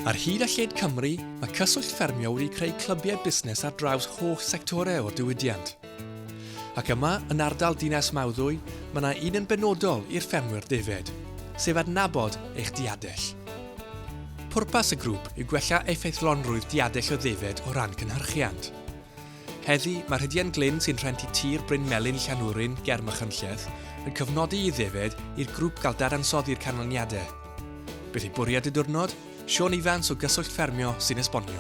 Ar hyd a lled Cymru, mae Cyswllt Ffermio wedi creu clybiau busnes ar draws holl sectorau o'r diwydiant. Ac yma, yn ardal Dinas Mawddwy, mae yna un yn benodol i'r ffermwyr defaid, sef adnabod eich diadell. Pwrpas y grŵp yw gwella effeithlonrwydd diadell o ddefaid o ran cynhyrchiant. Heddi, mae Rhydian Glyn sy'n rhentu tir Bryn Melyn Llanwrin ger Machynlleth yn cofnodi i ddefaid i'r grwp gael dadansoddi'r canlyniadau. Beth yw bwriad y diwrnod? Siôn Ifans o Gyswllt Ffermio sy'n esbonio.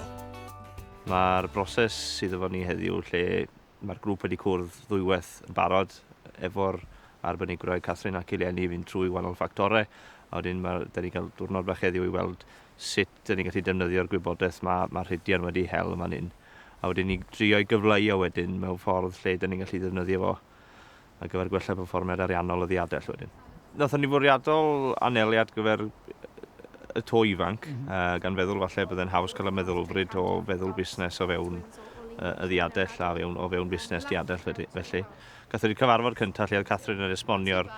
Mae'r broses sydd efo ni heddiw lle mae'r grŵp wedi cwrdd ddwywaith yn barod efo'r arbenigrwydd Catherine ac Eleni i fynd trwy wahanol ffactorau a wedyn mae, da ni'n cael diwrnod bach heddiw i weld sut da ni'n gallu defnyddio'r gwybodaeth mae, mae Rhydian wedi hel yn fan hyn. a wedyn i drio ei gyfleu o wedyn mewn ffordd lle dan ni'n gallu ddefnyddio fo ar gyfer gwella perfformiad ariannol y ddiadell wedyn. Nathon ni fwriadol anelu at gyfer y to ifanc, mm -hmm. uh, gan feddwl falle bydde'n haws cael y meddylfryd o feddwl busnes o fewn uh, y ddiadell a fewn, o fewn busnes diadell felly. Gathon ni cyfarfod cyntaf lle oedd Catherine yn esbonio'r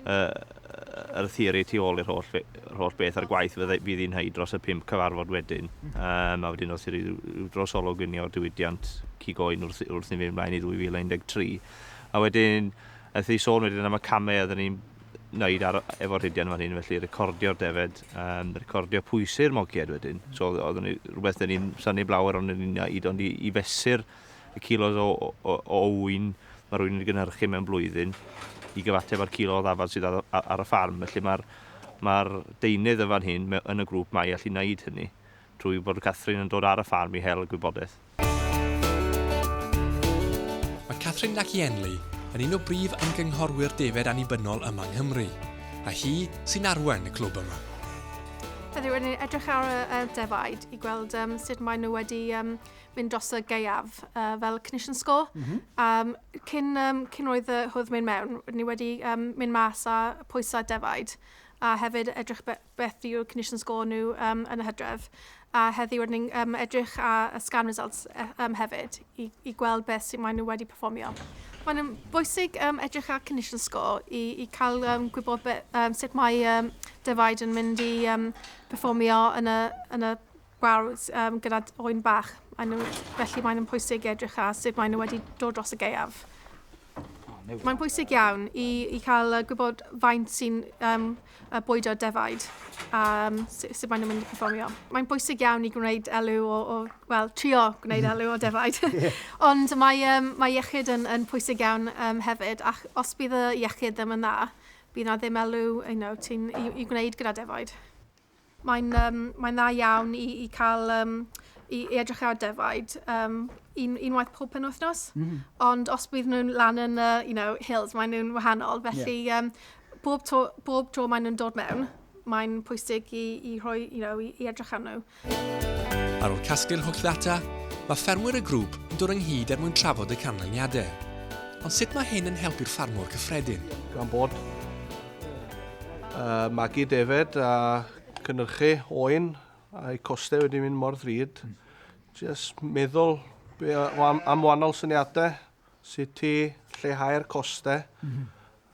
yr theori tu ôl i'r holl, holl beth a'r gwaith fydd fydd hi'n hyd dros y pump cyfarfod wedyn. Um, a wedyn wrth i ryw, ryw dros olwg i ni o'r diwydiant cigoen wrth, wrth i ni fynd mlaen i 2013. A wedyn, wrth i sôn wedyn am y camau oedden ni'n wneud ar, efo'r rhidian fan hyn, felly recordio'r defed, um, recordio pwysau'r moged wedyn. So oedd ni, rhywbeth dyn ni'n syni blawer ond ni'n neud ond i, i fesur y kilos o, o, o ŵyn mae rhywun yn gynhyrchu mewn blwyddyn i gyfateb â'r kilo o ddafad sydd ar, ar y ffarm. Felly mae'r mae deunydd yn fan hyn yn y grŵp mae i allu wneud hynny trwy bod Catherine yn dod ar y ffarm i hel y gwybodaeth. Mae Catherine Lakienley yn un o brif ymgynghorwyr defaid annibynnol yma yng Nghymru, a hi sy'n arwain y clwb yma. Heddiw, yn edrych ar y defaid i gweld um, sut maen nhw wedi um, mynd dros y gaeaf uh, fel cynnysion sgôl. Mm -hmm. um, cyn, um, cyn oedd y hwyd mynd mewn, ni wedi um, mynd mas a pwysau defaid a hefyd edrych be beth yw cynnysion sgôl nhw um, yn y hydref. A heddiw rydyn ni'n um, edrych a, a scan results um, hefyd i, i gweld beth sy'n maen nhw wedi performio. Mae'n um, bwysig um, edrych ar cynnysion sgôl i, i cael um, gwybod be, um, sut mae um, defaid yn mynd i um, performio yn y, yn y fawr gyda oen bach, felly mae'n pwysig edrych ar sut maen nhw wedi dod dros y gaeaf. Mae'n bwysig iawn i, i cael gwybod faint sy'n um, bwydo defaid a um, sut maen nhw'n mynd i performio. Mae'n bwysig iawn i gwneud elw o, o wel, trio gwneud elw o defaid. Ond mae, um, mae iechyd yn, yn pwysig iawn um, hefyd, ac os bydd y iechyd ddim yn dda, bydd na ddim elw you know, ti'n i, i gwneud gyda defaid. Mae'n yym mae'n dda iawn i i ca'l yym i i edrych ar defaid yym un unwaith pob penwythnos. Mm. Ond os bydd nhw'n lan yn y you know hills mae nhw'n wahanol felly yeah. um, bob to bob tro mae nhw'n dod mewn mae'n pwysig i i rhoi you know i, i edrych arnyn nhw. Ar ôl casglu'r holl ddata, mae ffermwyr y grŵp yn dod ynghyd er mwyn trafod y canlyniadau. Ond sut mae hyn yn helpu'r ffarmwr cyffredin? Gan bod uh, magu defed a cynnyrchu oen a'i costau wedi mynd mor ddrud. Mm. Just meddwl be, am, am wahanol syniadau, sut ti lleihau'r costau, mm -hmm.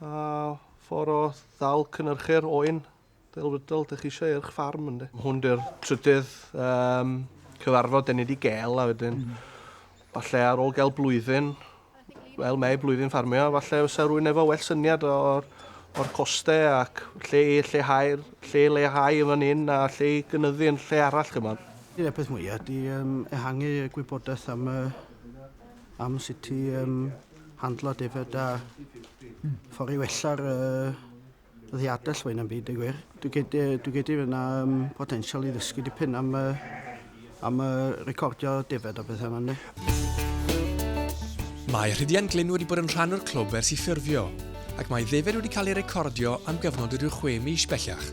a ffordd o ddal cynnyrchu'r oen delfrydol ydych chi eisiau eich ffarm ynddi. Hwn dy'r trydydd um, cyfarfod dyn ni wedi gael a wedyn mm. falle ar ôl gael blwyddyn Wel mae blwyddyn ffarmio, falle os a rwy'n efo well syniad o'r, or costau ac lle, lle, hair, lle leihau yn fan hyn a lle i gynyddu yn lle arall chymod. Dyna'r peth mwyaf, di um, ehangu gwybodaeth am, uh, am sut i um, handlo defyd a ffordd i wella'r uh, Ddi adell fwy na'm byd, y gwir. Dwi gedi, dwi gedi fyna um, potensial i ddysgu dipyn am, uh, am uh, recordio defed a bethau yma. Mae Rhydian Glyn wedi bod yn rhan o'r clwb ers i ffurfio, ac mae ddefed wedi cael ei recordio am gyfnod o ryw chwe mis bellach.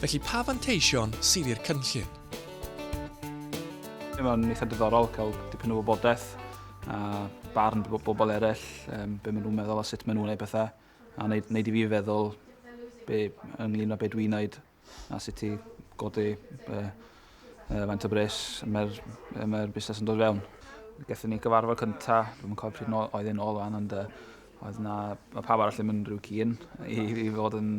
Felly pa fanteision sydd i'r cynllun? Mae'n eitha diddorol cael dipyn o wybodaeth a barn bobl eraill, um, be maen nhw'n meddwl a sut maen nhw'n ei bethau. A wneud, wneud i fi feddwl be, ynglyn â be dwi'n wneud a sut i godi uh, uh, faint o bres mae'r mae busnes yn dod fewn. Gethon ni gyfarfod cynta, dwi'n cofio pryd no, oedd yn ôl fan, ond uh, oedd na, mae pawb arall ddim yn rhyw cyn i, i fod yn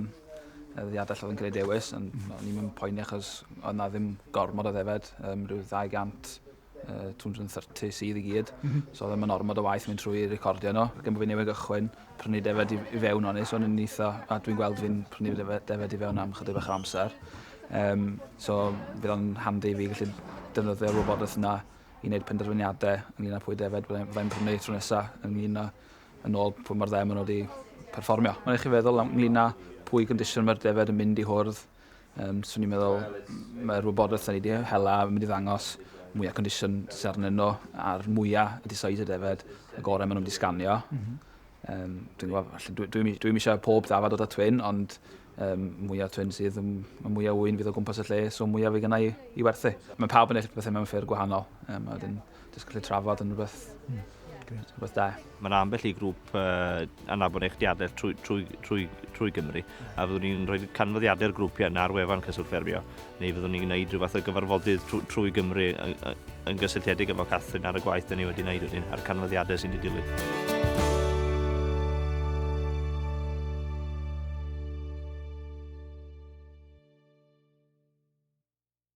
ddadell oedd yn gwneud dewis, ond mm. o'n i'n mynd poeni achos oedd na ddim gormod o ddefed, um, rhyw 200 uh, 230 sydd i gyd. Mm -hmm. So ddim yn ormod o waith mynd trwy recordio nhw. Ac bod fi'n newydd gychwyn, prynu defed i, i fewn o'n i, so yn eitha, a dwi'n gweld fi'n prynu defed, defed i fewn am chydig bach o amser. Um, so fydd o'n handi i fi gallu defnyddio'r wybodaeth yna i wneud penderfyniadau ynglyn â pwy defed byddai'n prynu tro nesaf ynglyn â yn ôl pwy mae'r ddau maen nhw wedi perfformio. Mae'n eich i feddwl ynglyn â pwy gyndision mae'r defed yn mynd i hwrdd Um, swn i'n meddwl mae'r wybodaeth da ni wedi hela yn mynd i ddangos mwyaf condition sy'n arnyn nhw a'r mwyaf y decided efed y gorau maen nhw'n disganio. Mm -hmm. um, dwi'n gwybod, dwi, dwi, dwi eisiau pob dafod o da twyn, ond um, mwyaf twyn sydd, mae mwyaf wy'n fydd o gwmpas y lle, so mwyaf fe gynnau i werthu. Mae pawb yn eich bethau mewn ffyrdd gwahanol. Um, a dyn, Jyst gallu trafod yn rhywbeth, rhywbeth da. Mae'n ambell i grŵp uh, anabod eich diadaeth trwy, trwy, trwy, trwy Gymru, a fyddwn ni'n rhoi canfyddiadau'r grwpiau yna ar wefan Cyswllt Ffermio, neu fyddwn ni'n gwneud rhywbeth o gyfarfodydd trwy, trwy Gymru yn, yn gysylltiedig efo Catherine ar y gwaith dyn ni wedi gwneud wedyn, a'r canfyddiadau sy'n ei dilyn.